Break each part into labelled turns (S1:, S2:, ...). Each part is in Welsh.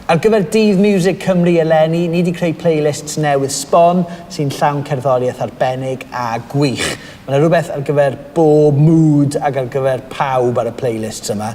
S1: Ar gyfer Dydd Miwsig Cymru eleni, ni 'di creu playlists newydd sbon sy'n llawn cerddoriaeth arbennig a gwych. Mae 'na rhywbeth ar gyfer bob mood ac ar gyfer pawb ar y playlists yma.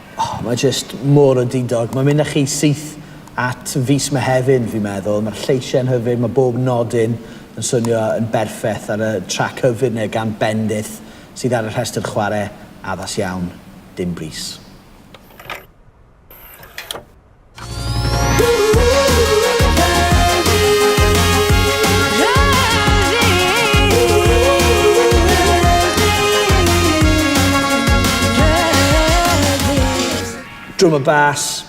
S1: Oh, mae jyst mor undidog. Mae'n mynd â chi syth at fis Mehefin, fi'n meddwl. Mae'r lleisiau'n hyfryd, mae bob nodyn yn swnio yn berffeth ar y trac hyfryd yna gan Bendith sydd ar y rhestr chwarae addas iawn, dim brys. Drum and Bass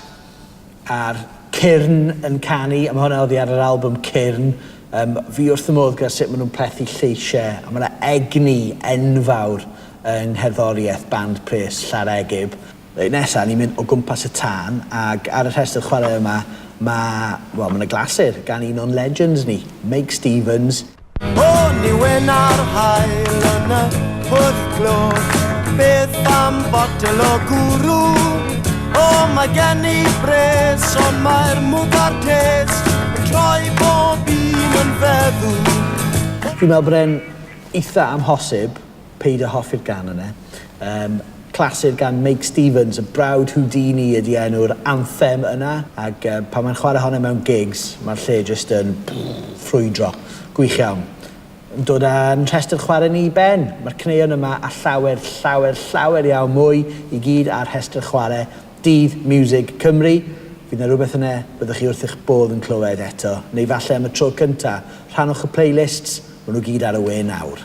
S1: a'r Cyrn yn canu, a mae hwnna oddi ar yr album Cyrn. Um, fi wrth y modd gyda sut maen nhw'n plethu lleisiau, a mae yna egni enfawr yng ngherddoriaeth band pres Llaregib. Reit nesa ni'n mynd o gwmpas y tân ag ar y rhestr chwarae yma ma', wel ma' 'na glasur gan un o'n legends ni, Meic Stevens. O'n
S2: i wyn ar haul yn y pwll glo Beth am botel o gwrw? O mae gen i bres ond mae'r mwg a'r tes Yn troi bob un yn feddw Fi'n meddwl
S1: bod e'n eitha amhosib Paid a hoffi'r gan yna. Yym, clasur gan Meic Stevens, y brawd Houdini ydi enw'r anthem yna, ac yy pan mae'n chwarae hon e mewn gigs, mae'r lle jyst yn ffrwydro. Gwych iawn. Yn dod â'n rhestr chwarae ni i ben, mae'r caneuon yma a llawer, llawer, llawer iawn mwy i gyd ar rhestr chwarae Dydd Miwsig Cymru, fydd 'na rywbeth yna byddwch chi wrth eich bodd yn clywed eto, neu falle am y tro cynta, rhannwch y playlists, ma' nhw gyd ar y we nawr.